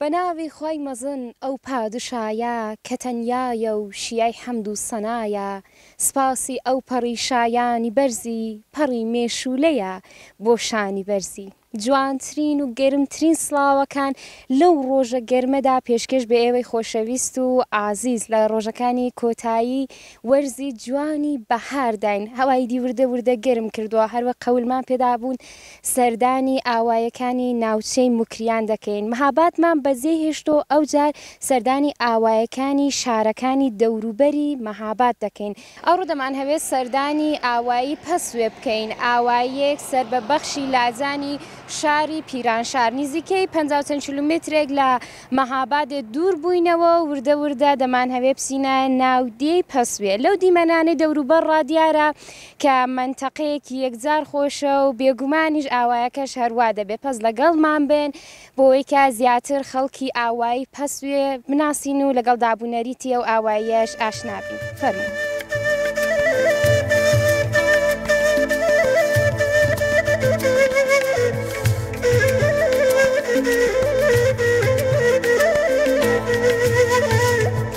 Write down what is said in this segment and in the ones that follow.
بە ناوی خوای مەزن ئەو پادشایە کە تەنیایە و شیای حەمد و سەنایە سپاسی ئەو پەڕی شایانی بەرزی پەڕی مێشوولەیە بۆ شانی بەرزی. جوانترین و گەرمترین سڵاوەکان لەو ڕۆژە گەرمەدا پێشکێش بە ئێوەی خۆشەویست و ئازیز لە ڕۆژەکانی کۆتایی وەرزی جوانی بەهارداین هەوای دی وردە وردە گەرم کردووە هەروەک قەولمان پێدابوون سەردانی ئاوایەکانی ناوچەی موکریان دەکەین، مەهابادمان بەجێ هێشت و ئەوجار سەردانی ئاوایەکانی شارەکانی دەوروبەری مەهاباد دەکەین، ئەوڕۆ دەمانهەوێت سەردانی ئاوایی پەسوێ بکەین، ئاواییەک سەر بە بەخشی لاجانی شاری پیرانشار، نیزیکەی پەنجا و چەند کیلومترێک لە مەهابادێ دوور بووینەوە و وردە وردە دەمانهەوێت بچینە ناو دێی پەسوێ، لەو دیمەنانەی دەوروبەڕ ڕا دیارە کە مەنتەقەیەکی یەکجار خۆشە و بێگومانیش ئاوایەکەش هەروا دەبێت پەس لەگەڵمان بن بۆوەی کە زیاتر خەڵکی ئاوایی پەسوێ بناسین و لەگەڵ داب و نەریتی ئەو ئاواییەش ئاشنا بین فەرموو.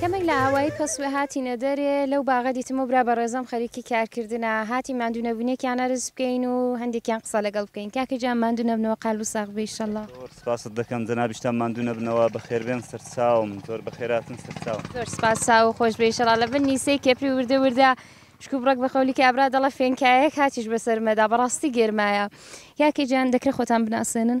کەمێک لە ئاوایی پەسوێ هاتینە دەرێ، لەو باغە دیتم ئەو برا بەڕێزەم خەریکی کارکردنە، هاتین ماندوونەبوونێکیان ئەرز بکەین و هەندێکیان قسە لەگەڵ بکەین، کاکە گیان ماندوو نەبنەوە قالبو ساغ بی ئیشەڵا. زۆر سپاست دەکەم جەنابیشتان ماندوو نەبنەوە، بەخێربێن سەرچاوم. زۆر بەخێرهاتن سەرچاوم. زۆر سپاس چاوو خۆش بێ ئیشەڵا. لە بن نیسێی کێپری وردە وردە شکو بڕەک بە خەولی کابرا دەڵێ فێنکایەک هاتیش بەسەرمەدا بەڕاستی گەرمایە. کاکە گیان دەکرێ خۆتان بناسێنن؟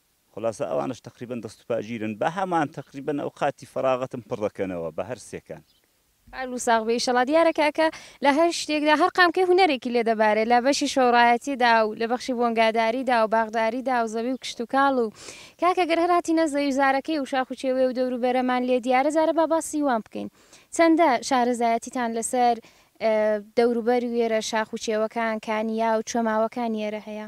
خولاسە ئەوانەش تەقریبەن دەست و پا گیرن بە هەمان تەقریبەن ئەوقاتی فەراغەتم پڕ دەکەنەوە بە هەر سێکان. کارلو ساغ بێ ئیشەڵا دیارە کاکە لە هەر شتێکدا هەر قامکەی هونەرێکی لێ دەبارێ لە بەشی شۆڕایەتیدا و لە بەخشی بۆنگاداریدا و باخداریدا و زەوی و کشتوکاڵ و کاکە گەر هەر هاتینە زەوی زارەکەی و شاخ و چێوێ و دەور و بەرەمان لێ دیارە جارە با باسی وان بکەین چەندە شارەزایەتیتان لە سەر دەور و بەر وێرە شاخ و چێوەکان کانیاو چۆماوەکانی ئێرە هەیە؟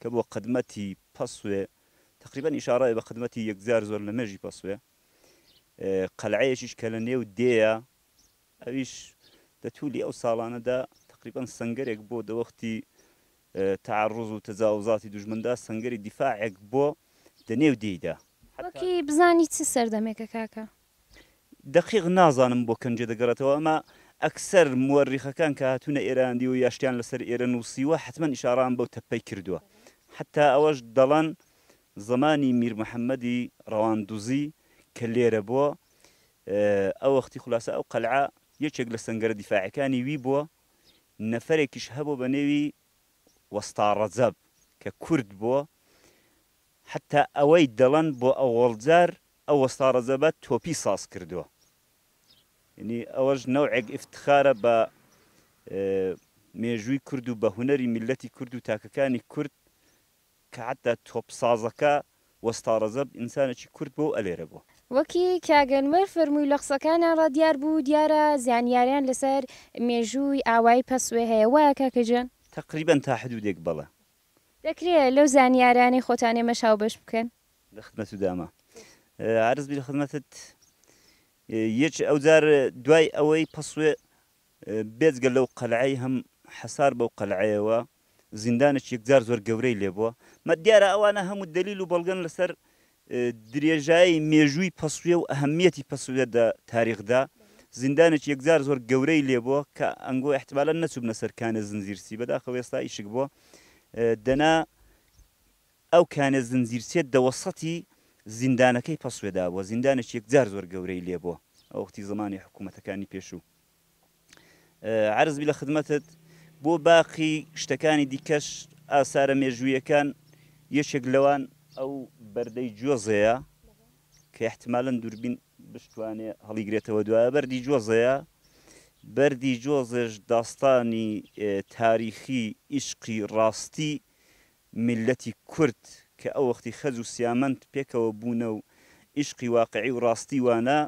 کە بۆ قدمەتی پەسوێ تەقریبەن ئیشاڕەیە بە قدمەتی یەکجار زۆر لە مێژی پەسوێ. قەلعەیەکیش کە لە نێو دێیە، ئەویش لە توولی ئەو ساڵانەدا تەقریبەن سەنگەرێک بۆ دەوەختی تەعەڕوز و تەجاوزاتی دوژمندا سەنگەری دیفاعێک بۆ دە نێو دێیدا. وەکی بزانی چ سەردەمێکە کاکە؟ دەقیق نازانم بۆ کەنجێ دەگەڕێتەوە ئەمە ئەکسەر موەرریخەکان کە هاتوونە ئێرەیان دیوە یا شتیان لەسەر ئێرە نووسیوە حەتمەن ئیشاڕەیان بەو تەپەی کردووە حەتتا ئەوەش دەڵەن زەمانی میر محەمەدی ڕەوان دوزی کە لێرە بووە ئەو وەختی خولاسە ئەو قەلعە یەکێک لە سەنگەرە دیفاعەکانی وی بووە نەفەرێکیش هەبوو بە نێوی وەستا ڕەجەب کە کورد بووە حەتتا ئەوەی دەڵەن بۆ ئەوەڵجار ئەو وەستا ڕەجەبە تۆپی ساز کردوە یەنی ئەوەش نەوعێک ئیفتخارە بە مێژووی کورد و بە هونەری میللەتی کورد و تاکەکانی کورد کە حەتتا تۆپ سازەکە وەستا ڕەجەب ئینسانێکی کورد بوە و ئەلێرە بوە. وەکی کاک ئەنوەر فەرمووی لە قسەکانیان ڕا دیار بوو دیارە زانیاریان لەسەر مێژووی ئاوایی پەسوێ هەیە وایە کاکە گیان؟ تەقریبەن تا حدوودێک بەڵێ. دەکرێ لەو زانیارانەی خۆتان ئێمەش هاوبەش بکەن؟ لە خدمەت و دامە عەرز بی لە خدمەتت یەچ ئەوجار دوای ئەوەی پەسوێ بێجگە لەو قەلعەی هەم حەسار بەو قەلعەیەوە زیندانێک یەکجار زۆر گەورەی لێ بووە مە دیارە ئەوانە هەموو دلیل و بەڵگەن لەسەر درێژایی مێژووی پەسوێ و ئەهمیەتی پەسوێ دە تاریخدا زیندانێک یەکجار زۆر گەورەی لێ بووە کە ئەنگۆ احتمالە نەچوبنە سەرکانە زنجیرسی بەداخەوە ئێستا ئیشک بووە دەنا ئەو کانێ زنجیرچێت دەوەسەتی زیندانەکەی پەسوێ دابووە، زیندانێکی یەکجار زۆر گەورەی لێ بووە ئەو وەختی زەمانی حکوومەتەکانی پێشوو. عەرز بی لە خدمەتت. بۆ باقی شتەکانی دیکەش، ئاسارە مێژوویەکان یەکێک لەوان. ئەو بەردەی جۆزێیە کە ئیحتیمالەن دووربین بشتوانێ هەڵیگرێتەوە دوایە، بەردی جۆزێیە. بەردی جۆزێش داستانی تاریخی، ئیشقی ڕاستی میللەتی کورد کە ئەو وەختی خەج و سیامەند پێکەوە بوونە و ئیشقی واقعی و ڕاستی وانە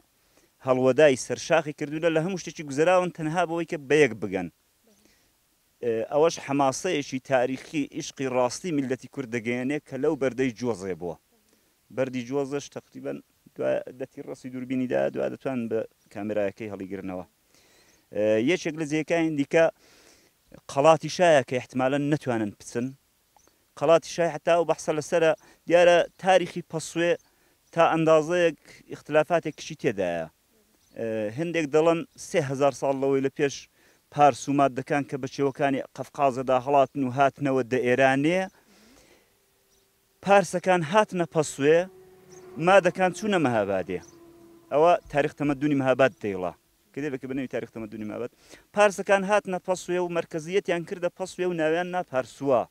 هەڵوەدای سەر شاخی کردوونە لە هەموو شتێکی گوزەراون تەنها بەوەی کە بەیەک بگەن ئەوەش حەماسەیەکی تاریخی ئیشقی ڕاستی میللەتی کورد دەگەیەنێ کە لەو بەردەی جۆزێ بووە بەردی جۆزەش تەقریبەن دوای دەتی ڕەسی دووربینی دا دوای دەتوان بە کامێرایەکەی هەڵیگرنەوە. یەکێک لە جێکانی دیکە قەڵاتی شایە کە احتمالەن نەتوانن بچن قەڵاتی شای حتا و بەحسە لەسرە دیارە تاریخی پەسوێ تا ئەندازەیەک اختلافاتێک کچی تێدایە هەندێک دەڵن سهزار ساڵ لەوەی لە پێش پارس و مادەکان کە بە چێوەکانی قەفقازەدا هەڵاتن و هاتنەوە دە ئێرانێ پارسەکان هاتنە پەسوێ، مادەکان چوونە مەهابادێ. ئەوە تاریخ تەمەدونی مەهاباد دەیڵا. کتێبێکە بە ناوی تاریخ تەمەدونی مەهاباد. پارسەکان هاتنە پەسوێ و مەرکەزییەتیان کردە پەسوێ و ناویان نا پارسوا.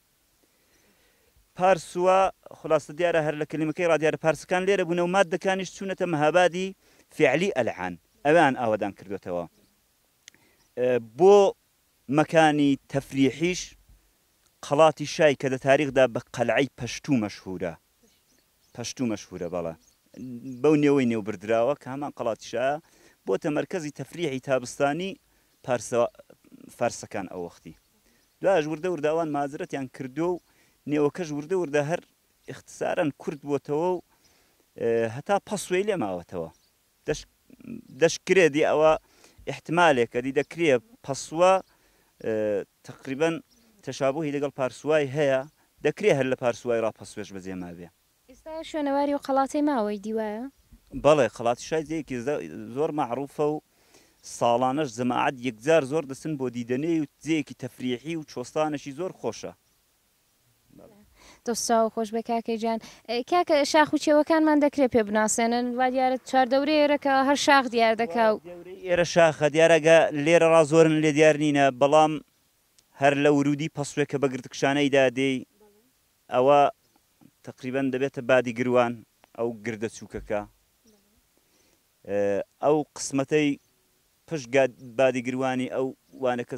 پارسوا، خولاسە دیارە هەر لە کەلیمەکەی ڕا دیارە پارسەکان لێرە بوونە و مادەکانیش چوونەتە مەهابادی فیعلی ئەلعان. ئەویان ئاوەدان کردووەتەوە. بۆ مەکانی تەفریحیش. قەڵاتی شای کە دە تاریخدا بە قەلعەی پەشتوو مەشهوورە پەشتوو مەشهوورە بەڵێ بەو نێوەی نێو بردراوە کە هەمان قەڵاتی شایە بۆتە مەرکەزی تەفریحی تابستانی پارسە فارسەکان ئەو وەختی دوایش وردە وردە ئەوان مازرەتیان کردووە و نێوەکەش وردە وردە هەر اختصارا کورت بۆتەوە و هەتا پەسوێی لێ ماوەتەوە دەش دەشکرێ دی ئەوە ئیحتمالێکە دی دەکرێ پەسوە تەقریبەن تەشابوهی لەگەڵ پارسوای هەیە دەکرێ هەر لە پارسوای ڕا پەسوێش بەجێ مابێ. ئیستا شوێنەواری و قەڵاتەی ماوەی دی وایە؟ بەڵێ قەڵاتی شای جێیەکی زە زۆر مەعروفە و ساڵانەش جەماعەت یەکجار زۆر دەچن بۆ دیدەنێی و جێیەکی تەفریحی و چۆستانێکی زۆر خۆشە. دەست چاو خۆش بێ کاکەی جان کاکە شاخ و چێوەکانمان دەکرێت پێ بناسێنن وا دیارە چوار دەورەی ئێرەکە هەر شاخ دیار دەکا و ئێرە شاخە دیارەگە لێرە ڕا زۆرن لێ دیار نینە بەڵام هەر لە ورودی پەسوێ کە بە گردکشانەیدا دێی ئەوە تقریبا دەبێتە بادی گروان ئەو گردە چووکەکە ئەو قسمەتەی پشت بادی گروانی ئەو وانەکە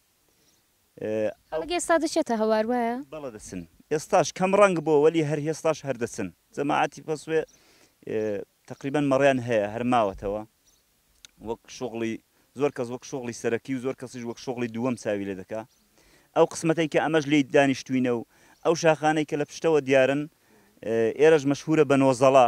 خەڵک ئێستا دەچێتە هەوار وایە؟ بەڵێ دەچن ئێستاش کەم ڕەنگ بۆ وەلی هەر هێستاش هەر دەچن جەماعەتی پەسوێ تەقریبەن مەڕیان هەیە هەر ماوەتەوە وەک شوغڵی زۆر کەس وەک شوغڵی سەرەکی و زۆر کەسیش وەک شوغڵی دووەم چاوی لێ دەکا ئەو قسمەتەی کە ئەمەش لی دانیشتوینە و ئەو شاخانەی کە لە پشتەوە دیارن ئێرەش مەشهورە بە نۆزەڵە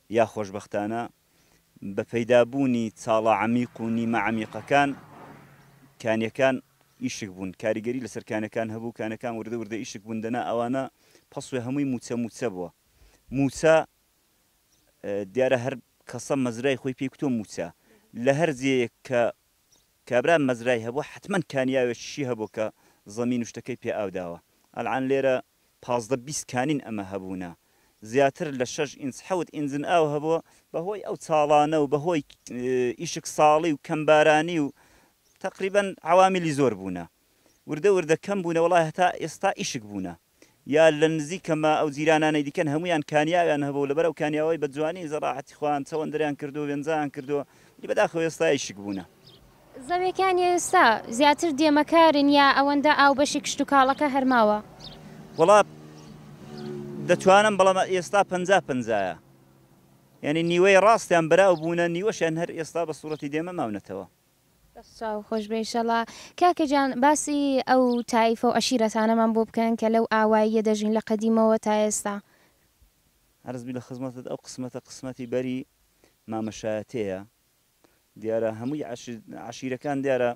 یا خۆشبەختانە بە پەیدا بوونی چاڵە عەمیق و نیمە عەمیقەکان کانیەکان ئیشک بوون کاریگەری لەسەر کانەکان هەبوو کانەکان وردە وردە ئیشک بوون دەنا ئەوانە پەسوێ هەمووی مووچە مووچە بووە مووچە دیارە هەر کەسە مەزرای خۆی پێی کوتوە مووچە لە هەر جێیەک کە کابرا مەزرای هەبوو حەتمەن کانیاوێکیشی هەبوو کە زەمین و شتەکەی پێ ئاو داوە ئەلعان لێرە پازدە بیست کانین ئەمە هەبوونە زیاتر لە شەش ئینچ حەوت ئینجن ئاو هەبووە بەهۆی ئەو چاڵانە و بەهۆی ئیشک ساڵی و کەم بارانی و تەقریبەن عەوامیلی زۆر بوونە وردە وردە کەم بوونە وەڵا هەتا ئێستا ئیشک بوونە یا لە نزیکە مە ئەو جیرانانەی دیکەن هەموویان کانیاویان هەبوو لەبەر ئەو کانیاوەی بە جوانی زەڕاعەتی خۆیان چەوەندریان کردووە وێنجان کردووە وەلی بەداخەوە ئێستا ئیشک بوونە. زەویەکانی ئێستا زیاتر دێمە کارن یا ئەوەندە ئاو بەشی کشتوکاڵەکە هەر ماوە؟ وەڵا دەتوانم بەڵام ئێستا پەنجا پەنجایە یانی نیوەی ڕاستیان براو بوونە نیوەشیان هەر ئێستا بە سوڕەتی دێمە ماونەتەوە. دەست چاو خۆش بێ ئیشەڵا. کاکە گیان باسی ئەو تایفە و عەشیرەتانەمان بۆ بکەن کە لەو ئاواییە دەژین لە قەدیمەوە تا ئێستا. عەرز بی لە خزمەتت ئەو قسمەتە قسمەتی بەری مامە شایەتێیە. دیارە هەمووی عەشیرەکان دیارە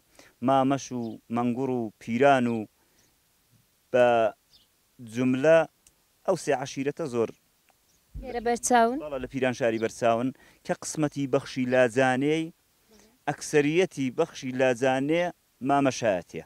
مامەش و مەنگوڕ و پیران و بە جوملە ئەو سێ عەشیرەتە زۆر لێرە بەرچاون. بەڵێ لە پیرانشاری بەرچاون کە قسمەتی بەخشی لاجانێی ئەکسەریەتی بەخشی لاجانێ مامەشایەتیە.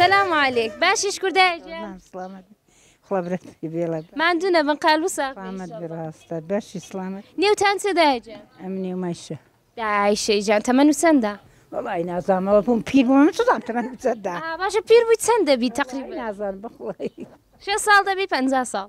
سلام علیک باشیش کوردە ماندوو نەبن قال وسە بەشی سلامت نێوتان سێدا ئەم نێومایشە داعیشەی جان تەمەن و چەندە وڵی نازانەوە بووم پیر بووم چدام تەمەن چەنددا باشە پیر بووی چەند دەبی تەقریب نازان بخڵی شێ ساڵ دەبی پ ساڵ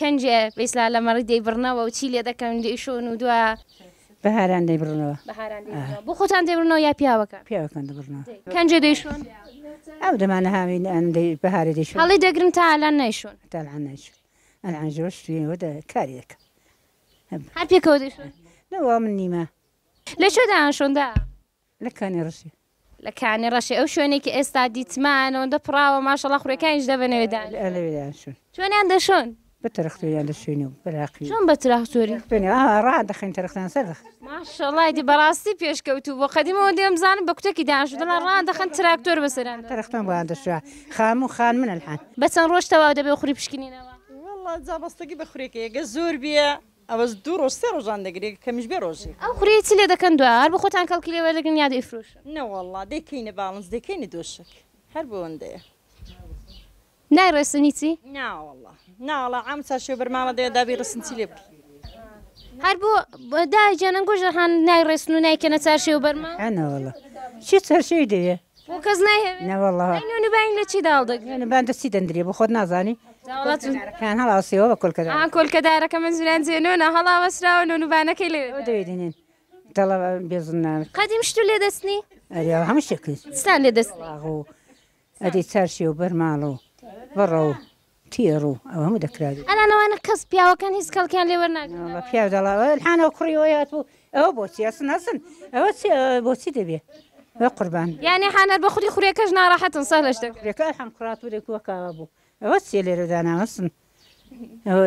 کەنجێ بیسلا لە مەڕی دەیبڕنەوە و چی لێ دەکەن و دەیشۆن و دوا. بەهاران دەیبڕنەوە. بەهاران دەیبڕنەوە. بۆ خۆتان دەیبڕنەوە یا پیاوەکان؟ پیاوەکان دەبڕنەوە. کەنجێ دەیشۆن. ئەو دەمانە هاوین ئەن دەی بەهارێ دەیشۆن. هەڵی دەگرن تا ئەلان نەیشۆن. تا ئەلان نەیشۆن. ئەلان ژەوە شتویەوە دە کاری دەکەن. هەر پێکەوە دەیشۆن. نەوە من نیمە. لە کوێ دەیانشۆن دا؟ لە کانی ڕەشێ. لە کانی ڕەشێ ئەو شوێنەی کە ئێستا دیتمان ئەوەندە پڕاوە ماشەڵا خوڕیەکانیش دەبە نەوێ دانیشن. ئا لەوێ دانیشن. چۆنیان دەشۆن؟ بە تراختۆریان دەشۆین و براقی و. چۆن بە تراختۆری؟ تراختۆری ئا ڕا دەخەین تراختۆریان سەر دەخەین. ماشەڵا ئیدی بەڕاستی پێشکەوتوو بووە قەدیمەوە دەمزانم بە کوتەکی دانیشتوو دەڵێن ڕا دەخەن تراکتۆر بەسەریان دەخەن. تراختۆن بۆیان دەشۆ خان و خان من الحان. بە چەند ڕۆژ تەواو دەبێ و خوری پشکنینەوە؟ وەڵا جا بەستگی بە خوریەکەیە گەر زۆر بیە ئەوەش دوو ڕۆژ سێ ڕۆژان دەگرێ کەمیش بێ ڕۆژێک. ئەو خوریەی چ لێ دەکەن دوای هەر بە خۆتان کەڵکی لێ وەردەگرن یا دەیفرۆشن؟ نەوەڵا دەیکەینە باڵنس دەیکەینە دۆشەک هەر بۆئەوەندەیە. نای ڕێسنی چی؟ ناوەڵا ناوەڵا عام چا شێو بەرماڵە دەیە دابی ڕێسن چی لێ بکەی. هەر بۆ دایە گیان ئەنگۆش دەخان نای ڕێسن و نایکەنە چارشێو بەرماڵە. ناوەڵا چی چارشێوی دەوێ بۆ کەس نایهەوێ نەوەڵا ئەی نوێن و باین لە چی داڵ دەگرێت نوێن و بان دەستی دەندرێ بۆ خۆت نازانی داوڵاتون کان هەڵاوسێەوە بە کۆلکەدا ئا کۆلکەدارەکە من زوران جێنۆنە هەڵاوەسراوە نۆن و بانەکەی لێ ئەو دەوێ دێنێن دەڵە بێزنان قەدیم شت و لێ دەستنی ئەرێ هەموو شتێک کرد چتان لێ دەست لاغ و ئەدی چارشێ و بەرماڵ و بەڕە و تیە ڕوو ئەوە هەموو دەکرابێ. ئەنا نەوانە کەس پیاوەکان هیچ کەڵکیان لێ وەرناگرن ئەوە بە پیاو دەڵێ ئەوە الحان ئەوە کوڕی ئەوەی هاتبوو ئەوە بۆچی ئەسن ئەسن ئەوە چی ئەوە بۆچی دەبێ وە قوربان. یانی حان هەر بە خودی خورێکەش ناڕەحەتن سەهلە شتەکە. خورێکە الحان کوڕاتوورێک وەک ئاوا بوو ئەوە چیە لێرە داناوە ئەسن ئەوە.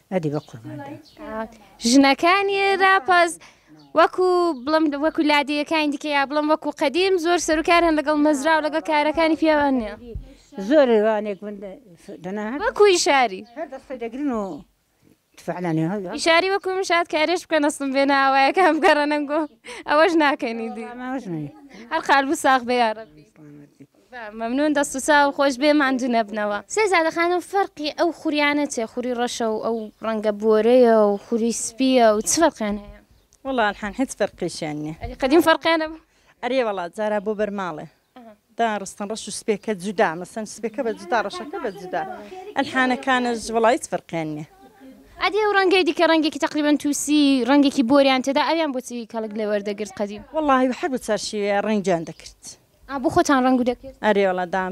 ئەدی بەقوربان بم. ژنەکانی راپەز وەکو بڵم وەکو لادێیەکانی دیکە یا بڵم وەکو قەدیم زۆر سەرکار هەن لەگەڵ مەزرا و لەگەڵ کارەکانی پیاوان نیە زۆر وانێک من دەنا وەکوی شاری دەگرن و تفعلانی شاری وەکو من شاد کارێش بکەن ئەستم بێ ناوایەکان بگەڕەنەنگۆ ئەوەش ناکەنی دی هەر قالبوو ساخ بێ یاڕەبی مەمنون دەست و چاو خۆش بێ ماندو نەبنەوە. سەی زادە خانم فەرقی ئەو خوریانە چیە خوری ڕەشە و ئەو ڕەنگە بۆرەیە و خوری سپیە و چ فەرقیان هەیە؟ وەڵا الحان هیچ فەرقیشیان نیە. ئەری قەدیم فەرقیان نەبوو؟ ئەرێ وەڵا جارا بۆ بەرماڵێ داڕستن ڕەش و سپێکە جودا مەسەن سپێکە بە جودا ڕەشەکە بە جودا الحانەکانش وەڵا هیچ فەرقیان نیە. ئەدی ئەو ڕەنگەی دیکە ڕەنگێکی تەقریبەن توسی ڕەنگێکی بۆریان تێدا ئەویان بۆچی کەڵک لێ وەردەگرت قەدیم؟ وەڵاهی هەر بە چارشیوەیا ڕەنگیان دەکرد. ئا بۆ خۆتان ڕەنگو دەکرد؟ ئەرێ وەڵا دام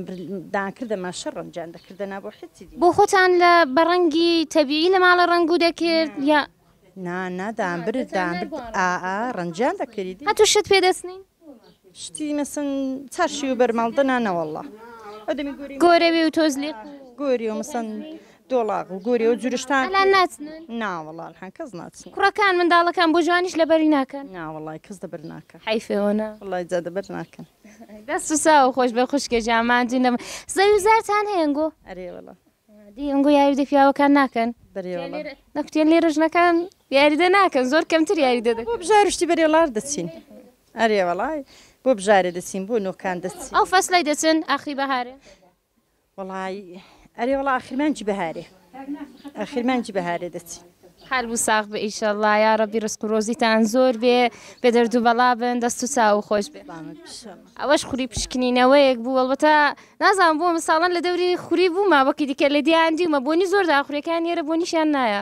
دان کردە ماشە ڕەنجان دەکردە نا بۆ حیتی دی. بۆ خۆتان لە بە ڕەنگی تەبیعی لە ماڵە ڕەنگو دەکرد یا. نا نا دام برد دام برد ئا ئا ڕەنجان دەکری دی. هەتو شت پێ دەسنین؟ شتی مەسن چارشیو بەرماڵ دەنا نەوەڵا ئەو دەمی گۆری. گۆرەوی و تۆزلیق و. گۆری و مەسن دۆڵاغ و گۆرێ و جورشتان ئەلان ناچنن ناوەڵا الحان کەس ناچن کوڕەکان منداڵەکان بۆ جوانیش لەبەری ناکەن ناوەڵای کەس دەبەر ناکە حەیفێ وەنا وەڵای جا دەبەر ناکەن دەست و ساو خۆش بێ خوشکێ جا ماندوو نەبن زەوی و زارتان هەیە ئەنگۆ ئەرێ وەڵا دی ئەنگۆ یاری دە پیاوەکان ناکەن بەرێ وەڵا نەکوتێن لێرە ژنەکان یاریدە ناکەن زۆر کەمتر یاریدە دەکەن بۆ بژار شتی بەرێ وەڵار دەچین ئەرێ وەڵای بۆ بژارێ دەچین بۆ نۆکان دەچین ئەو فەسلەی دەچن ئاخری بەهارێ وەڵایی ئەرێ وەڵا ئاخر مانگی بەهارێ ئاخر مانگی بەهارێ دەچین حال بوو ساغ بە ئیشەڵا یا ڕەبی ڕسک و ڕۆزیتان زۆر بێ بێ دەردو بەڵا بن دەست و چاو خۆش بێ بامت بشەم ئەوەش خوری پشکنینەوەیەک بوو وەڵبەتە نازان بۆ ساڵن لە دەوری خوری بوومە وەکی دیکە لە دیان دیومە بۆنی زۆر داخورەکان نێرە بۆنیشیان نایە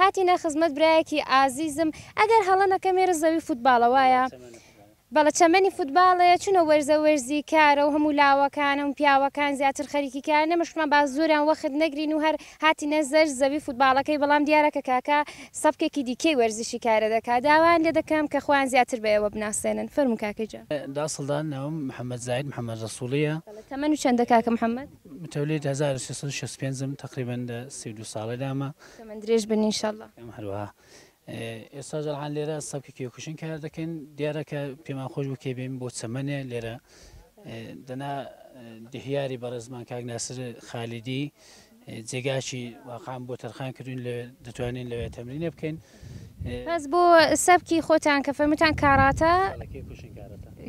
هاتینە خزمەت برایەکی ئازیزم ئەگەر هەڵە نەکەم ئێرە زەوی فوتباڵە وایە؟ بەڵێ چەمەنی فوتباڵێ چونە وەرزە وەرزی کارە و هەموو لاوەکانە و پیاوەکان زیاتر خەریکی کارن ئێمەش وتمان با زۆریان وەخت نەگرین و هەر هاتینە زەر زەوی فوتباڵەکەی بەڵام دیارە کە کاکە سەبکێکی دیکەی وەرزشی کارە دەکا داوایان لێ دەکەم کە خۆیان زیاتر بە ئێوە بناسێنن فەرموو کاکە گیان. دا سڵدان ناوم محمد زاهید محمد رسوڵیە. بەڵێ تەمەن و چەندە کاکە محمد؟ متولید هەزار و سێ سەد و شەست و پێنج م تەقریبەن لە سی و دوو ساڵەدامە. تەمەن درێژ بن ان شاء اللە. ئێمە هەروەها ئێستا جەرحان لێرە سەبکی کێوکوشن کار دەکەین دیارە کە پێمان خۆش بوو کێبێن بۆ چەمەنێ لێرە دەنا دهیاری بەڕێزمان کاک ناسر خالیدی جێگاشی واقعام بۆ تەرخان کردوین لە دەتوانین لەوێ تەمرینە بکەین بەس بۆ سەبکی خۆتان کە فەرموتان کاراتە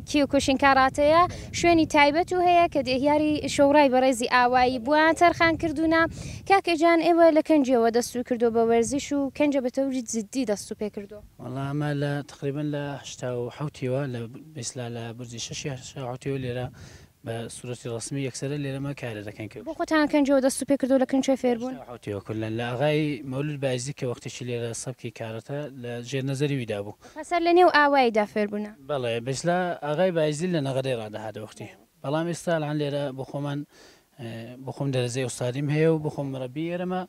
کیوکوشین کاراتێیە شوێنی تایبەت و هەیە کە دێهیاری شۆڕای بەڕێزی ئاوایی بووان تەرخان کردوونە کاکە جان ئێوە لە کەنجیەوە دەستوو کردووە بە وەرزش و کەنجە بە تەوری جدی دەستوو پێ کردووە؟ وەڵا ئەمە لە تەقریبەن لە هەشتا و حەوتیەوە لە بیسلا لە بورجی شەشی هەشتا و حەوتیەوە لێرە بە سورەتی ڕەسمی یەکسەرە لێرە مە کارە دەکەن کە. بۆ خۆتان کەنجەوە دەست و پێ کردوە لە کن کوێ فێر بوون؟ هێشتا حوتی و کلن لە ئاغای مەولود بایزدی کە وەختێکی لێرە سەبکی کارەتە لە ژێر نەزەری وی دابوو. پسر لە نێو ئاوایی دا فێر بوونە. بەڵێ بەیسلا ئاغای بایزدی لە نەغەدەی ڕا دەهاتە وەختی بەڵام ئێستا ئەلان لێرە بۆ خۆمان بۆ خۆم دەرەجەی ئوستادیم هەیە و بۆ خۆم مەرەبی ئێرەمە.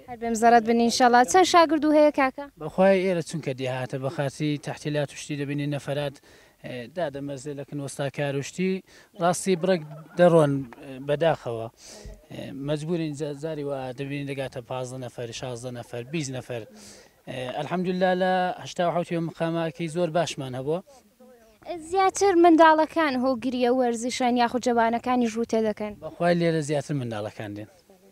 هەر بێم زەڕەت بن ان شاءاللە. چەند شاگردو هەیە کاکە؟ بەخوای ئێرە چونکە دێهاتە بەخاتری تەحتیلات و شتی دەبینی نەفەرات دادەمەزرێ لە کنوەستاکار و شتی ڕاستی بڕێک دەڕۆن بەداخەوە مەجبورین جاری وا دەبینی دەگاتە پازدە نەفەر شازدە نەفەر بیست نەفەر الحمدللە لە هەشتا و حەوت یۆم قاماکی زۆر باشمان هەبووە زیاتر منداڵەکان هۆگریە وەرزشن یاخود جەوانەکانیش ڕووتێ دەکەن بەخوای لێرە زیاتر منداڵەکان دێن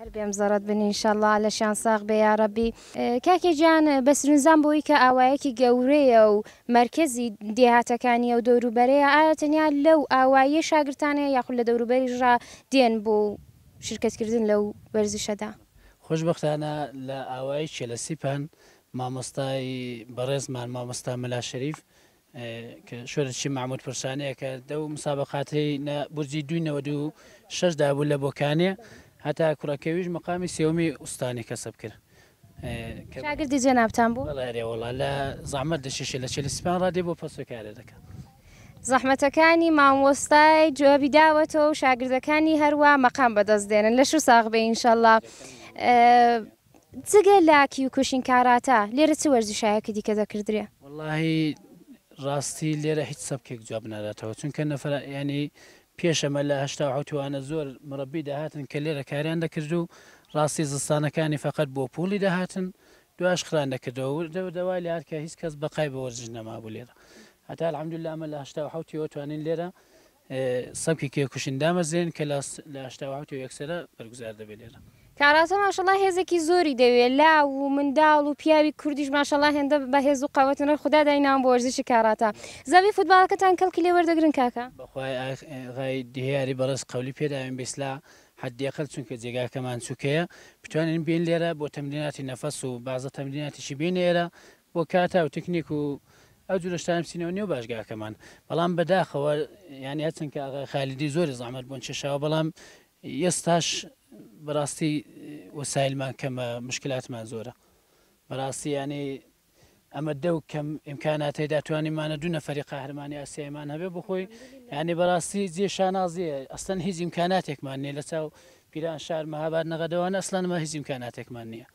هەر بێم زەڕەت بن ان شاء اللە لەشیان ساغ بێ یاڕەبی. کاکێ گیان بەسرنجدام بەوەی کە ئاوایەکی گەورەیە و مەرکەزی دێهاتەکانیە و دەوروبەرەیە ئایا تەنیا لەو ئاواییە شاگرتانەیە یاخود لە دەوروبەریش ڕا دێن بۆ شرکەت کردن لەو وەرزشەدا؟ خۆشبەختانە لە ئاوایی چێلەسیپان مامۆستای بەڕێزمان مامۆستا مەلا شەریف کە شۆرشی مەحمود پرسانەیە کە دە و مسابقاتی لە بورجی دوی نەوە دوو شەش دابوو لە بۆکانێ هەتا کوڕەکەویش مقامی سێومی ئوستانی کەسب کرد شاگردی جێنابتان بوو وڵا لە زەحمەت دەشیشە لە چێلی سپان ڕادێ بۆ پەسوکارێ دەکەن زەحمەتەکانی مامۆستای جوابی داوەتەوە و شاگردەکانی هەروە مەقام بەدەست دێنن لەش و ساغ بێ ئینشەڵە جگە لە کیوکوشین کاراتا لێرە چ وەرزشایەکی دیکە دەکردرێ؟ وەڵاهی ڕاستی لێرە هیچ سەبکێک جواب ناداتەوە چونکە نەفەر یانی پێش ئەمە لە هەشتا و حەوت وانە زۆر مورەبی دەهاتن کە لێرە کاریان دەکرد و ڕاستی زستانەکانی فەقەت بۆ پووڵی دەهاتن دوایش خران دەکردەوە و دەو دەوای لە هەر کە هیچ کەس بەقای بە وەرزش نەمابوو لێرە هەتا الحمدللە ئەمە لە هەشتا و حەوت یەوە توانین لێرە سەبکی کێکوشن دامەزرێن کە لە لە هەشتا و حەوت و یەکسەرە بەرگوزار دەبێ لێرە. کاراتە ماشەڵا هێزێکی زۆری دەوێ لاو و منداڵ و پیاوی کوردیش ماشەڵا هێندە بە هێز و قەوەتن ڕەی خودا دای ناوم بۆ وەرزشی کاراتە زەوی فوتباڵەکەتان کەڵکی لێ وەردەگرن کاکە؟ بەخوای ئاخ غای دیاری بەڕێز قەولی پێداوین بیسلا حەدی ئەقل چونکە جێگاکەمان سوکەیە بتوانین بێین لێرە بۆ تەمریناتی نەفەس و بازە تەمریناتیشی بێینە ئێرە بۆ کاتا و تکنیک و ئەو جورە شتانە بچینەوە نێو باشگاکەمان بەڵام بەداخەوە یانی هەرچەند کە ئاغای خالیدی زۆری زەحمەت بۆن چێشاوە بەڵام ئێستاش بەڕاستی وەسایلمان کەمە مشکلاتمان زۆرە بەڕاستی یانەی ئەمە دەو کەم ئیمکاناتی داتوانیمانە دوو نەفری قاهرمانی ئاسیایمان هەبێ بخۆی یعنی بەڕاستی جێ شانازیە ئەستەن هیچ ئیمکاناتێکمان نیە لە چاو پیران شار مەهاباد نەغەدەوان ئەسلانمە هیچ ئیمکاناتێکمان نییە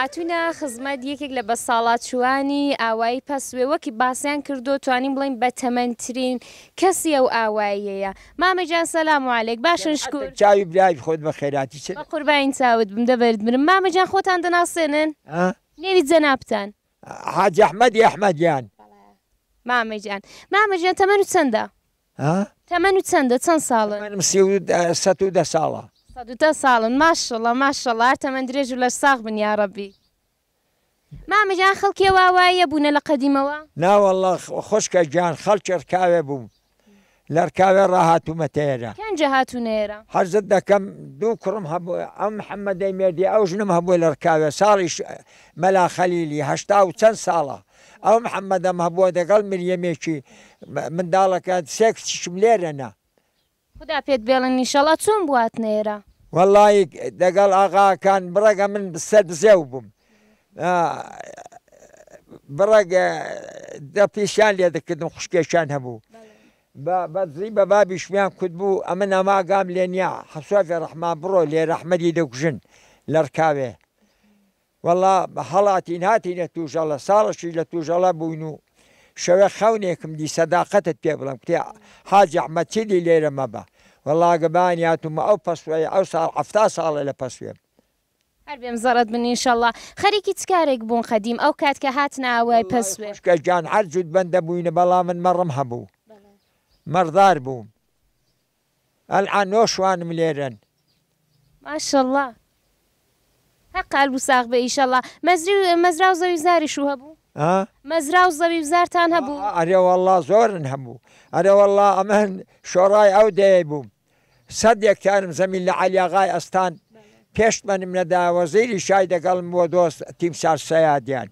هاتوینە خزمەت یەکێک لە بەساڵاچووانی ئاوایی پەسوێ وەکی باسیان کردو توانین بڵین بە تەمەنترین کەسی ئەو ئاواییەیە مامەجان سەسلام علیک باشن شکور چاوی برای خۆت بە خێراتی چ بە قوربانی چاوت بم دە بەرد مرم مامەجان خۆتان دەناسێنن نێوی جەنابتان. حاجی احمدی احمدیان. مامە گیان. مامە گیان تەمەن و چەندە؟ ها؟ تەمەن و چەندە چەند ساڵن؟ تەمەنم سی و دە سەد و دە ساڵە. سەد و دە ساڵن ماشااللە ماشااللە هەر تەمەن درێژ و لەش ساغ بن یاڕەبی. مامە گیان خەڵکی ئەوا وایە بوونە لە قەدیمەوە؟ ناوەڵڵا خوشکە گیان خەڵکی ڕکاوێ بوون لەرکاوێ ڕاهاتوومەتە ئێرە. کێن جێ هاتوونە ئێرە؟ عەرزت دەکەم دوو کوڕم هەبوو، ئەم محەمەدەی مێردی ئەو ژنم هەبووە لەرکاوێ، ساڵی ش مەلا خەلیلی، هەشتا و چەند ساڵە. ئەو محەمەدەم هەبووە دەگەڵ مریەمێکی منداڵەکە، سێ کچیشم لێرەنە. خودا پێت بێڵن ئیشەڵا، چۆن بوواتنە ئێرە؟ وەڵڵایی دەگەڵ ئاغاکان بڕەگە من سەربزێو بووم، بڕێک دەپیشیان لێ دەکردم خوشکێکیان هەبوو بە بەدزی بە بابیشمیان کورد بوو ئەمە ناماگام لێ نییە حەسوای فێ ڕەحمان بڕۆ لێ ڕەحمەدی دەکوژن لەڕکاوێ وەڵا هەڵاتین هاتینە توژەڵە ساڵەشی لە توژەڵە بووین و شەوێ خەونێکم دی سەداقەتت پێ بڵم کتێ حاجی ئەحمەد چیدی لێرە مەبە وەڵا گەبانی هاتوومە ئەو پەسوەیە ئەو ساڵ حەفتا ساڵە لە پەسوێم هەر بێم زەڕەت بن ئینشەڵا. خەریکی چ کارێک بوون قەدیم ئەو کات کە هاتنە ئاوای پەسوێ؟ وەڵای خوشکە گیان هەر جوت بەندە بووینە بەڵام من مەڕم هەبوو مەڕدار بووم ئەلعان نۆ شوانم لێرەن. ماشەڵا هەر قال بو ساغ بئ ئیشەڵا مەزری و مەزرا و زەوی زاریش و هەبوو؟ ها؟ مەزرا و زەوی و زارتان هەبوو؟ ئەرێ وەڵا زۆرن هەبوو ئەرێ وەڵا ئەمن شۆڕای ئەو دەیەی بووم. سەد یەکتارم زەمین لە عەلی ئاغای ئەستان پێش منم نەدا وەزیری شای دەگەڵم بۆ دۆست تیمسار سەیادیان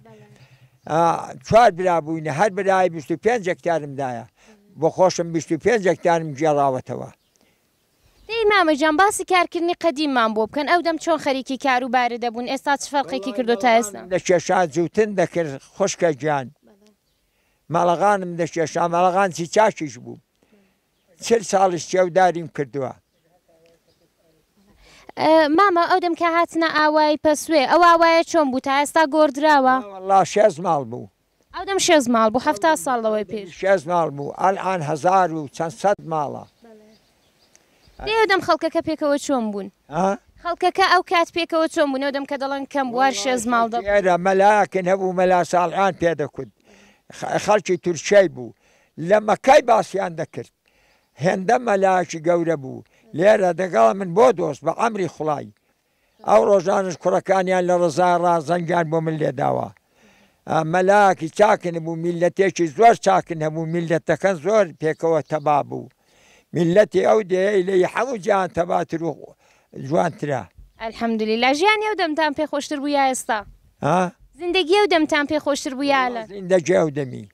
چوار برا بووینە هەر برای 25 یەکتارم دایە بۆ خۆشم 25 یەکتارم گێڕاوەتەوە دەی مامە جان باسی کارکردنی قەدیممان بۆ بکەن ئەو دەم چۆن خەریکی کار و بارە دەبوون ئێستا چ فەرقێکی کردو تا ئێستا لە کێشا جوتن دەکرد خوشکە گیان مەڵەغانم دەکێشا مەڵەغان چی چاکیش بوو چل ساڵیش چێوداریم کردووە. مامە ئەو دەم کە هاتنە ئاوای پەسوێ ئەو ئاوایە چۆن بوو تا ئێستا گۆڕدراوە؟ ناوەڵڵا شێست ماڵ بوو. ئەو دەم شێست ماڵ بوو حەفتا ساڵ لەوەی پێش. شێست ماڵ بوو ئەلئان هەزار و چەند سەد ماڵە. دەی ئەو دەم خەڵکەکە پێکەوە چۆن بوون؟ ها؟ خەڵکەکە ئەو کات پێکەوە چۆن بوون ئەو دەم کە دەڵێن کەم بوو هەر شێست ماڵ دەبوو؟ خەڵکی ئێرە مەلایەکن هەبوو مەلا ساڵحان پێ دەکوت خەڵکی تورکیای بوو لە مەکای باسیان دەکرد هێندە مەلایەکی گەورە بوو لێرە دەگەڵ من بۆ دۆست بە عەمری خوڵای ئەو ڕۆژانەش کوڕەکانیان لە ڕزای ڕا زەنگیان بۆ من لێداوە مەلاکی چاکن بوو میلەتێکی زۆر چاکن هەبوو میلەتەکەن زۆر پێکەوە تەبا بوو میللەتی ئەو دێیەی لە ی حەموو جیهان تەباتر و جوانترە. الحمدللە ژیانی ئەو دەمتان پێ خۆشتر بوو یا ئێستا؟ ها؟ زیندەگی ئەو دەمتان پێ خۆشتر بوو یا ئەلەند؟ زیندەگی ئەو دەمی.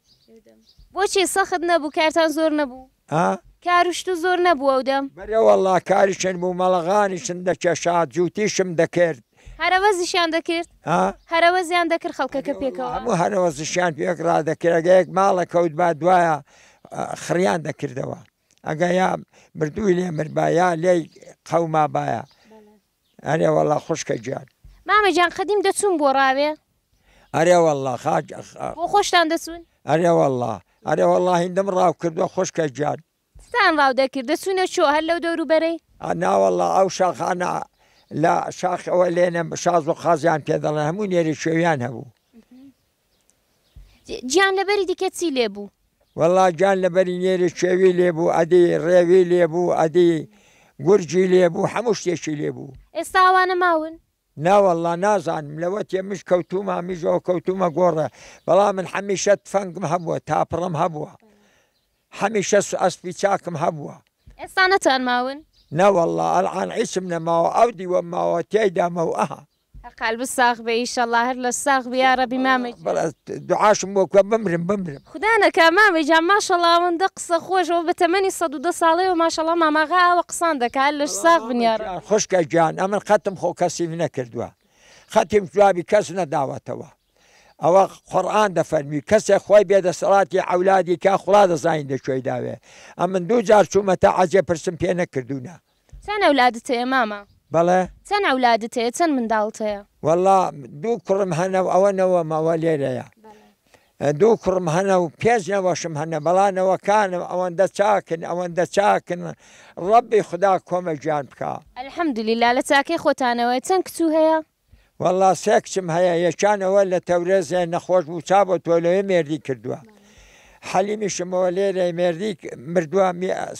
بۆچی سەخت نەبوو کارتان زۆر نەبوو؟ ها؟ کار و شتو زۆر نەبوو ئەو دەم؟ بەلێ وەڵا کاریشن بوو مەڵەغانیشم دەکێشا جووتیشم دەکرد. هەرەوەزیشیان دەکرد؟ ها؟ هەرەوەزیان دەکرد خەڵکەکە پێکەوە؟ بەلێ وەڵا هەموو هەرەوەزیشیان پێک ڕادەکرد ئەگەر یەک ماڵە کەوتبا دوایە خڕیان دەکردەوە ئەگە یا مردووی لێ مربا یا لێی قەوما باە ئەرێ وەڵا خوشکە گیان مامە جان قەدیم دەچوون بۆ ڕاوێ ئەرێ وەڵا خاج بۆ خۆشتان دەچوون ئەرێ وەڵا ئەرێ وەڵا هیندم ڕاو کردووە خوشکە گیان ستان ڕاو دەکرد دەچوونە چۆ هەر لەو دەوروبەرەی ناوەڵا ئەو شاخانە لە شاخەوە لێنە شاز و قازیان پێ دەڵێن هەموو نێری شێویان هەبوو گیان لەبەری دیکە چی لێ بوو؟ وەڵا گیان لەبەری نێری کێوی لێ بوو ئەدی ڕێوی لێ بوو ئەدی گورجی لێ بوو هەموو شتێکی لێ بوو. ئێستا ئەوانە ماون؟ ناوەڵا نازانم لەوە تێ مژ کەوتوومە مژەوە کەوتوومە گۆڕێ بەڵام من حەمیشە تفەنگم هەبووە تاپڕم هەبووە حەمیشە ئەسپی چاکم هەبووە. ئێستا نەتان ماون؟ نەوەڵا ئەڵعان عیسم نەماوە ئەو دیوەم ماوە تیایدا مەوئه. قالبت ساغ بێ ئیشەڵا هەر لە ساغ بی یاڕەبی مامە گیان. بەڵا دوعاشم بۆ بکە بمرم بمرم. خودا نەکا مامە گیان ماشەڵا ئەوەندە قسە خۆش ئەوە بە تەمەنی سەد و دە ساڵەیەوە ماشەڵا ماماغا ئاوە قسان دەکا هەر لەش ساغ بن یاڕەبی. بەڵا مامە گیان خوشکە گیان ئەمن خەتم خۆ کەسیم نەکردوە خەتیم جوابی کەس نەداوەتەوە ئەوە قورئان دەفەرمی کەسێ خوای بێ دەسەڵاتی عەولادی کا خوڵا دەزانی لە کوێی داوێ ئەمن دوو جار چومەتە عەزێ پرسم پێ نەکردونە چەن ئەولادت هەیە مامە؟ بەڵێ. چەن ئەولادت هەیە چەن منداڵت هەیە؟ وەڵا دوو کوڕم هەنە و ئەوە نەوەمە ئەوە لێرەیە بەڵێ. دوو کوڕم هەنە و پێنج نەوەشم هەنە بەڵا نەوەکانم ئەوەندە چاکن ئەوەندە چاکن ڕەبی خودا کۆمە گیان بکا. الحمدللە لە چاکەی خۆتانەوەیە چەن کچو هەیە؟ وەڵا سێ کچم هەیە یەکیان ئەوە لە تەورێزێ نەخۆش بوو چا بۆ تۆ لەوێ مێردی کردووە حەلیمیشمەوە لێرەی مێردی مردووە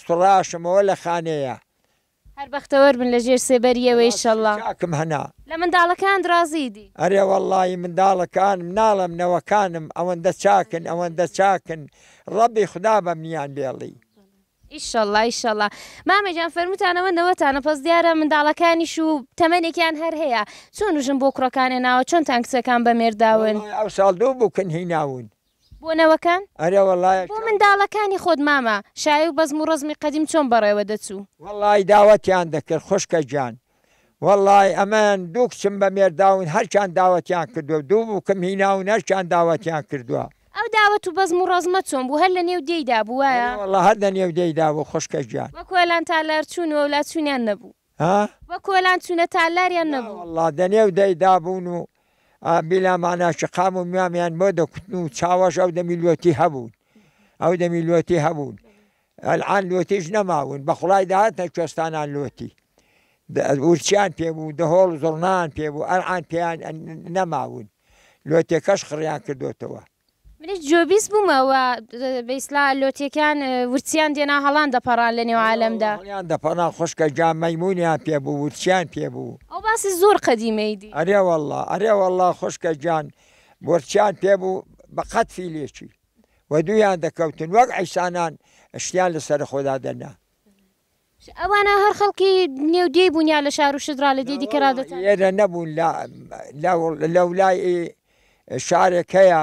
سڕاشمەوە لە خانەیە هەر بەختەوەر بن لە ژێر سێبەریەوە ئیشەڵا کم هەنا لە منداڵەکان ڕازی دی ئەرێ وەڵی منداڵەکان مناڵم نەوەکانم ئەوەندە چاکن ئەوەندە چاکن ڕەبی خوددا بەمنیان بێڵی ئیشەڵا ئیشەڵا مامە گیان فەرموتانەوە نەوەتانە پەس دیارە منداڵەکانیش و تەمەێکیان هەر هەیە چۆن وژن بۆ کوڕەکانێ ناوە چۆن تان کچەکان بە مێرداون ئەو ساڵ دوو بووکن هیناون بۆ نەوەکان ئەرێ وەڵای بۆ منداڵەکانی خۆت مامە شای و بەزم و ڕەزمی قەدیم چۆن بەڕێوە دەچوو. وەڵای داوەتیان دەکرد خوشکە گیان وەڵای ئەمەیان دوو کچم بە مێرداون هەرکیان داوەتیان کردوە دوو بوکم هیناون هەرکیان داوەتیان کردوە. ئەو داوەت و بەزم و ڕەزمە چۆن بوو هەر لە نێو دێی دا بوو وایە؟ بەلی وەڵا هەر لە نێو دێی دا بوو خوشکە گیان. وە کۆلان تالار چوون و لا چوونیان نەبوو. ها؟ وە کۆلان چوونە تالار یان نەبوو؟ نا وەڵا دە نێو دێی دا بوون و بیلامانا شقام و میامیان بۆ دە کوتن و چاوەش ئەو دەمی لۆتی هەبوون ئەو دەمی لۆتی هەبوون. ئەلعان لۆتیش نەماون بەخوڵای دەهاتنە کوێستانان لۆتی ورچیان پێ بوو دەهۆڵ و زوڕنایان پێ بوو ئەلعان پێیان نەماون لۆتێکەش خڕیان کردۆتەوە. منیش گوێبیست بوومە وە بەیسلا لۆتیەکان ورچیان دێنا هەڵان دەپەڕان لە نێو عالەمدا. بەڵێ وەڵا هەڵیان دەپەڕان خوشکە گیان مەیمونیان پێ بوو ورچیان پێ بوو. ئەو باسی زۆر قەدیمەی دی. ئەرێ وەڵا ئەرێ وەڵا خوشکە گیان ورچیان پێ بوو بە قەد فیلێکی. و دوویان دەکەوتن وەک عیسانان شتیان لە سەر خۆدا دەنا. ئەوانە هەر خەڵکی نێو دێی بوون یا لە شار و شت ڕا لە دێ دیکە ڕا دەچن؟ لێرە نەبوون لە لەولای شارێک هەیە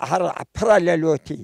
هەر پڕە لە لۆتی.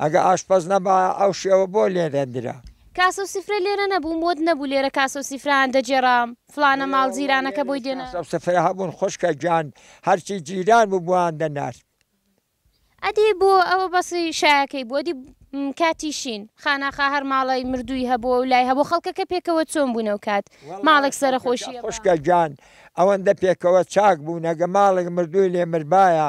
ئەگە ئاشپەز نەبایە ئەو شێوە بۆ لێدەندرا. کاسە و سفرە لێرە نەبوو؟ مۆد نەبوو لێرە کاسە و سیفرەیان دەگێرا؟ فڵانە ماڵ جیرانەکە بۆی دێنا؟ کاسە و سفرە هەبوون خوشکە گیان، هەرچی جیران بوو بۆیان دەنارد. ئەدی بۆ ئەوە بەس شایەکەی بوو؟ ئەدی کاتی شین، خاناخا هەر ماڵی مردووی هەبوو و لای هەبوو؟ خەڵکەکە پێکەوە چۆن بوون ئەو کات؟ ماڵێک سەرەخۆشییە با. خوشکە گیان، ئەوەندە پێکەوە چاک بوون، ئەگە ماڵێک مردووی لێ مردبایە،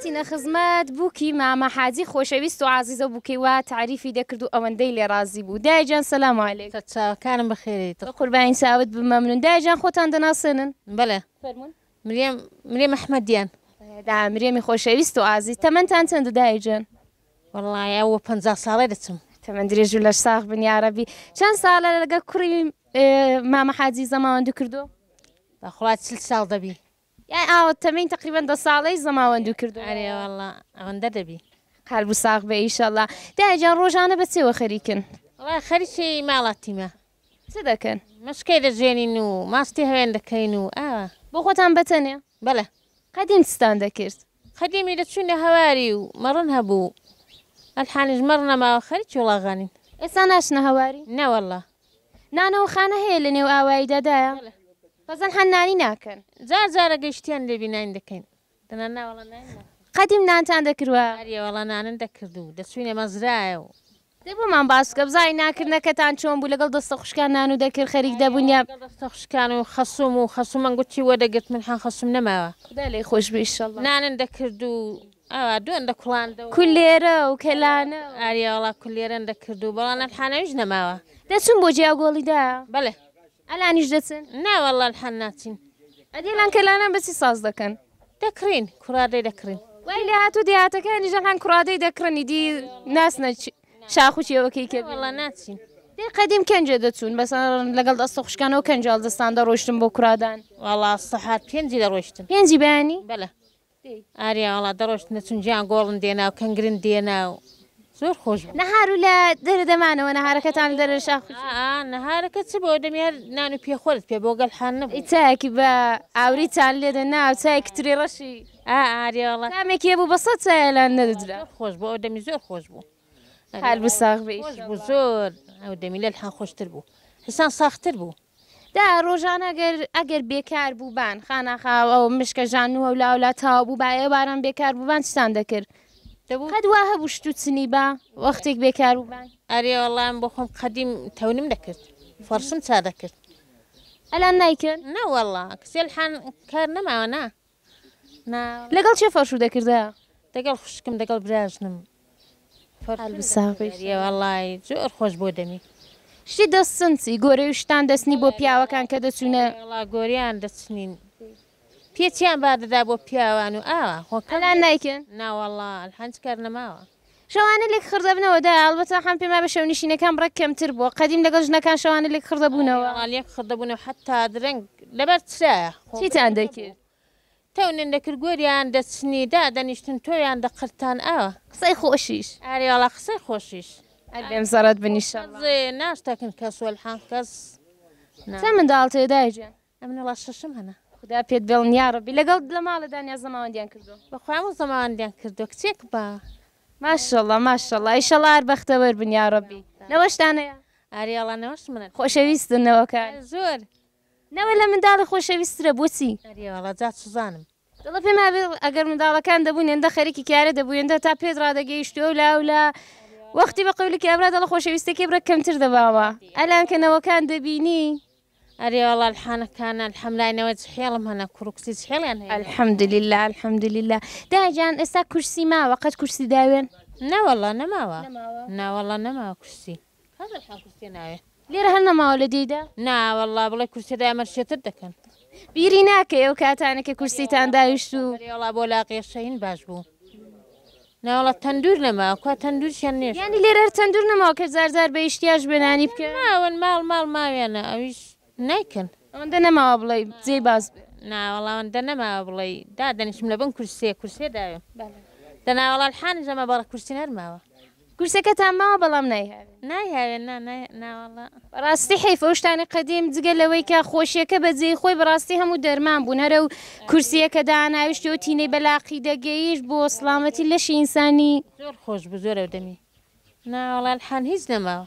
هاتینە خزمەت بووکی مامە حاجی خۆشەویست و عزیزە بووکەی وا تاریفی دەکرد و ئەوەندەی لێ ڕازی بوو دایجان سەسلام علیک چاوەکانم بەخێریت قوربانی چاوت بمەمنون دایجان خۆتان دەناسێنن بەڵێ فەرمون مریم مریم ئەحمەدیان دا مرێمی خۆشەویست و ئازی تەمەەن تان چەند دایجان وەڵڵاهی ئەوە پەنجا ساڵەی دەچم. تەمەن درێژ و لەش ساغ بن یاڕەبی. چەند ساڵە لەگەڵ کوڕی مامە حاجی زەماوەندو کردووە؟ بەخوا چل ساڵ دەبی. یان ئاوە تەمەنی تەقریبەن دە ساڵەی زەماوەندو کردووە. ئەرێ وەڵڵا ئەوەندە دەبی. قەلب و ساغ بێ ئیشەڵا. دایە گیان ڕۆژانە بە چێوە خەریکن؟ وەڵا خەریکی ماڵاتیمە. چ دەکەن؟ مەشکەی دەجوێنین و ماستی هەوێن دەکەین و ئاوا. بۆ خۆتان بەتەنێ؟ بەلە. قەدیم چتان دەکرد؟ قەدیمی لە چووینە هەواری و مەڕن هەبوو ئەلحانیش مەڕ نەماوە خەریکی وڵاغانین. ئێستا ناچنە هەواری؟ نەوەڵا. نانەوە خانە هەیە لە نێو ئاواییدا دایە؟ بەڵێ. بەزەن حەن نانی ناکەن. جار جارە گەیشتیان لێبی ناین دەکەین. دەنا ناوەڵا ناین ناخۆین. قەدیم نانتان دەکروە؟ ئەریێ وەڵا نانن دەکردو دەچووینە مەزرایە و دەی بۆمان باس بکە بزانین نانکردنەکەتان چۆن بوو لەگەڵ دەستە خوشکان نان و دەرکرد خەریک دەبوون یا لەگەڵ دەستە خوشکان و خەسووم و خەسوومان گوتی وەردەگرت من هان خەسووم نەماوە خودا لێی خۆش بێ ئیشەڵا نانن دەکرد و ئاوا دوێن دەکوڵاندەوە کولێرە و کەلانە و. ئارێ وەڵا کولێرەن دەکرد و بەڵام نان حاناویش نەماوە. دەچوون بۆ جێ ئەو گۆڵیدا؟ بەڵێ. ئەلانیش دەچن؟ نا وەڵا الحال ناچین. ئەدی ئەلان کەلانان بەچی ساز دەکەن؟ دەکڕین کورادەی دەکڕین. وای لێهاتوو دێهاتەکانیش ئەلان کورادەی دەکڕن ئیدی ناچنە شاخ و کێوەکەی کەبیر. وەڵا ناچین. دەی قەدیم کەنجێ دەچوون بەس لەگەڵ ئەستە خوشکانەوە کەنجاڵ دەستان دەڕۆیشتن بۆ کورادان. وەڵا سەحات پێنجی دەڕۆیشتن. پێنجی بەیانی؟ بەلە. ئاریا وەڵا دەڕۆشتنە چون جیان گۆڵن دێنا و کەنگرن دێنا و زۆر خۆش بوو. نەهار و لە دەرە دەمانەوە نەهارەکەتان لە دەرە شاخ ئا ئا نەهارەکە چ بۆ دەمی هەر نان و پێخۆرت پێ بۆ گەل حال نەبوو. چایەکی بە ئاوریتان لێ دە نا و چایەکی ترێ ڕەشی. ئا ئاریا وەڵا. تامێکی هەبوو بە سەد چایە لان نەدەدرا. زۆر خۆش بوو ئەو دەمی زۆر خۆش بوو. هەربژی ساغ بی. خۆش بوو زۆر ئەو دەمی لەل حە خۆشتر بوو حسان ساختر بوو. دە ڕۆژان ئەگەر ئەگەر بێکار بووبان خاناخا ئەو مشکە ژان و هەولا هەولا تاو بوو با ئێواران بێکار بووبان چتان دەکرد دەبوو قەت وا هەبوو شت و چنی با وەختێک بێکار بووبان ئەرێ وەڵا من بۆ خۆم قەدیم تەونم دەکرد فەڕشم چا دەکرد ئەلان نایکەن؟ نەوەڵا کچێلحان کار نەماوە نا. لەگەڵ کێ فەرشو دەکردە؟ دەگەڵ خوشکم دەگەڵ براژنم وەڵای زۆر خۆش بۆ دەمی شتی دەست سنسی گۆرەی و شتان دەستنی بۆ پیاوەکان کە دەچوونە وڵا گۆریان دەچنین پێچیان با دەدا بۆ پیاوان و ئاوا خۆکەلا نایکەن ناوەڵا هەنج کار نەماوە شەوانە لێک خڕ دەبنەوە دە ئەڵبەتە حەم پێم وابێ شەونیشینەکان ڕێک کەمتر بووە قەدیم لەگەڵ ژنەکان شەوانە لێک خڕ دەبوونەوە. ئەرێ وەڵا لێک خڕ دەبوونەوە حەتتا درەنگ لەبەر چرایە خۆ چیتان بەیانی نەبوو دەکرد؟ تەونیان دەکرد گۆریان دەچنی دادەنیشتن تۆویان دەقرتان ئاوا. قسەی خۆشیش. ئەرێ وەڵا قسەی خۆشیش. هەر بێم زەڕەت بن ئیشەڵا. قەزێ ناشتەکن کەس وەلحە کەس نا. چەند منداڵتە دایە گیان؟ ئەمنە ڵا شەشم هەنە. خودا پێت بێڵن یاڕەبی لەگەڵ لە ماڵە دانیا زەماوەندیان کردووە. بەخوایمە زەماوەندیان کردووە کچێک بە. ماشەڵا ماشەڵا ئیشەڵا هەر بەختەوەر بن یاڕەبی نەوەشتانەیە. ئاری ئەڵا نەوەش منن. خۆشەویستن نەوەکان. زۆر. نەوە لە منداڵی خۆشەویسترە بۆچی. ئەری وەڵا جا چزانم. دەڵێ پێم وابێ ئەگەر منداڵەکان دەبوون هێندە خەریکی کارە دەبوو هێندە تا پێت ڕادەگەیشتی ئەو لا و لا وەختی بە قەولکی ئەبرا دەڵە خۆشەویستەکەی بڕە کەمتر دەباوە ئەلان کە نەوەکان دەبینی ئەرێ وەڵا الحانەکانە الحەملاینەوە حێڵم هەنە کوڕ و کچی حێڵیان هەیە. الحمد لله الحمد لله داجان ئێستا کورسی ماوە قەت کورسی داوێن نەوەڵا نەماوە نەوەڵا نەماوە کورسی هەزار شان کورسیە ناوێ. لێرە هەر نەماوە لە دێیدا؟ نا واللە بڵێ کورسیە دای ئەمەر شێتر دەکەن. بیری ناکەی ئەو کاتانە کە کورسیتان داویشت و. بەلێ وەڵا بۆ لاقیە شەین باش بوو. نا وەڵا تەندور نەما کوا تەندورشیان نێشت. یانی لێرە هەر تەندور نەماوە کە جار جار بە ئیشتیاش بێ نانی بکەن؟ ماون ماڵ ماڵ ماویانە ئەویش. نایکەن. ئەوەندە نەماوە بڵێی جێی باس بێ. ناوەڵا ئەوەندە نەماوە بڵێی دادەنیشم لەبن کورسیە کورسیە داوێم دەناوەڵا الحانیش نەماوە بەڵا کورسی هەر ماوە. کورسەکەتان ماوە بەڵام نایهاوێ. نایهاوێ نا ناوەڵا. بەڕاستی حەیف ئەو شتانەی قەدیم جگە لەوەی کە خۆشیەکە بە جێی خۆی بەڕاستی هەموو دەرمان بوون هەر ئەو کورسیە کە داناویشتی ئەو تینەی بە لاقی دەگەیشت بۆ سڵامەتی لەشی ئینسانی. زۆر خۆش بوو زۆر ئەو دەمی. ناوەڵا الحان هیچ نەماوە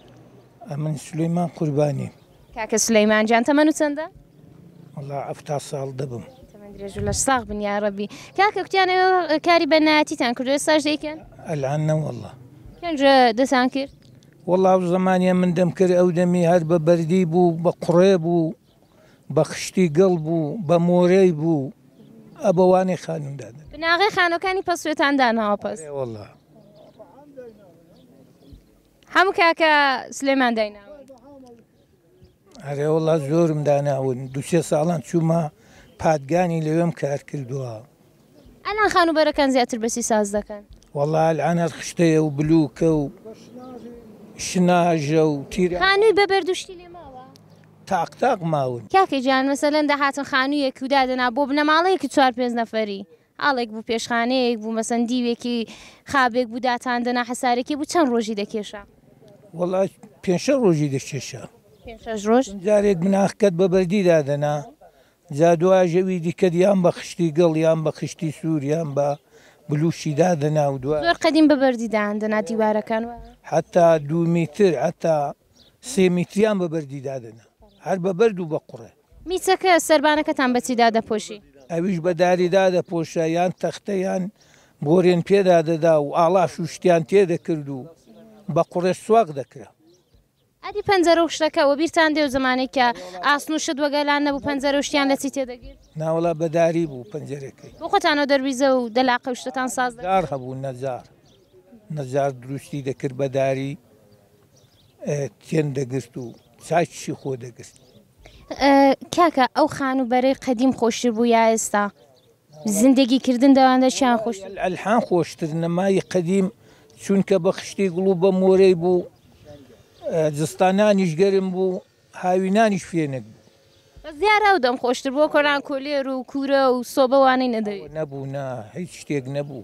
ئەمن سلەیمان قوربانی کاکە سلەیمان جان تەمەن و چەندە؟ وڵا ئەفتا ساڵ دەبم درێژو لە ساغ بنیا ڕەبی کاکە کوتیانە کاری بەنایەتیتان کردو ساش دەیکەن ئەلان نەوەله پێنج دەسان کرد وەڵاو زمانە من دەم کرد ئەو دەمی هەر بە بەردی بوو بە قڕێ بوو بە خشتی گەڵ بوو بە مۆرەی بوو ئەبەوانی خانمدا بناغی خانەکانی پەسوێتان داناوە پەس وڵە هەموو کاکە سلێمان دایناون. ئەرێوەڵا زۆرم داناون دوسێ ساڵان چوومە پادگانی لەوێم کار کردووە. ئەلان خانوبەرەکان زیاتر بەسی ساز دەکەن. وەڵا ئەلان هەر خشتەیە و بلوکە و شناژە و تیر. خانووی بە بەرد و شتی لێ ماوە؟ تاق تاق ماون. کاکە گیان مەسەلەن دەهاتن خانوویەک و دادەنا بۆ بنەماڵەیەکی چوار پێنج نەفەری ئاڵێک بوو، پێشخانەیەک بوو، مەسەن دیوێکی خابێک بوو، داتان دەنا، حەسارەکێ بوو، چەند ڕۆژی دەکێشا؟ وەڵا پێنج شەش ڕۆژی دەکێشا. پێنج شەش ڕۆژ؟ چون جارێک بناخکەت بە بەردی دادەنا، جا دواش ئەوی دیکەت یان بە خشتی گڵ یان بە خشتی سوور یان بە بلووشی دادەنا و دوا. زۆر قەدیم بە بەردی دایاندەنا دیوارەکان، وایە؟ حەتا دوو میتر، حەتا سێ میتریان بە بەردی دادەنا. هەر بە بەرد و بە قوڕێ. میچەکە، سەربانەکەتان بە چی دادەپۆشی؟ ئەویش بە داری دادەپۆشا، یان تەختە یان بۆرێن پێدا دەدا و ئاڵاش و شتیان تێ دەکرد و بە قوڕێش سواغ دەکرا. ئەدی پەنجەرە و شتەکە؟ وەبیرتان دێ و زەمانەی کە ئاسن و شت وەگەلان نەبوو، پەنجەرە و شتیان لە چی تێ دەگرت؟ ناوەڵا بە داری بوو پەنجەرەکەی. بۆ خۆتانەوە دەرویزە و دەلاقە و شتتان ساز دەکرد؟ نەجار هەبوو، نەجار. نەجار دروستی دەکرد بە داری. کێن دەگرت و چاکیشی خۆ دەگرت. کاکە ئەو خان و بەرەی قەدیم خۆشتر بوو یا ئێستا؟ زندگی کردن دەواندا چیان خۆش؟ وەللە ئەلحان خۆشتر نەمای قەدیم چونکە بە خشتی گڵ و بە مۆرەی بوو زستانانیش گەرم بوو هاوینانیش فێنک بوو. بەس دیارە ئەو دەم خۆشتر بوو وەکۆ ئەلان کۆلێر و کورە و سۆبە وانەی نەدەوی. نەبوو نا هیچ شتێک نەبوو.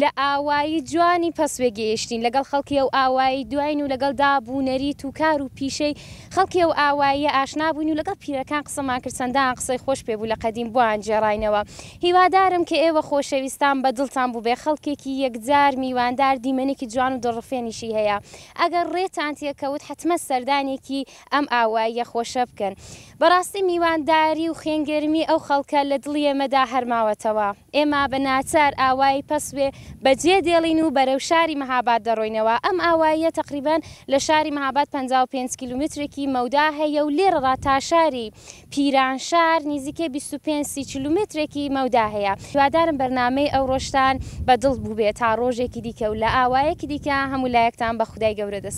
لە ئاوایی جوانی پەسوێ گێیشتین، لەگەڵ خەڵکی ئەو ئاوایەی دواین و لەگەڵ داب و نەریت و کار و پیشەی خەڵکی ئەو ئاواییە ئاشنا بووین و لەگەڵ پیرەکان قسەمان کرد، چەندان قسەی خۆش پێ بوو لە قەدیم بۆیان گێڕاینەوە. هیوادارم کە ئێوە خۆشەویستان بە دڵتان بووبێ، خەڵکێکی یەکجار میواندار، دیمەنێکی جوان و دڵڕفێنیشی هەیە. ئەگەر ڕێتان تێ کەوت حەتمەن سەردانێکی ئەم ئاواییە خۆشە بکەن. بەڕاستی میوانداری و خوێنگەرمی ئەو خەڵکە لە دڵی ئێمەدا هەر ماوەتەوە. ئێمە بە ناچار ئاوایی پەسوێ بە جێ دێڵین و بەرەو شاری مەهاباد دەڕۆینەوە. ئەم ئاواییە تەقریبەن لە شاری مەهاباد پەنجا و پێنج کیلومترێکی مەودا هەیە و لێرڕا تا شاری پیرانشار نیزیکەی بیست و پێنج سی کیلومترێکی مەودا هەیە. هیوادارم بەرنامەی ئەوڕۆشتان بە دڵ بووبێ تا ڕۆژێکی دیکە و لە ئاوایەکی دیکە هەموو لایەکتان بە خودای گەورە دەسپارم.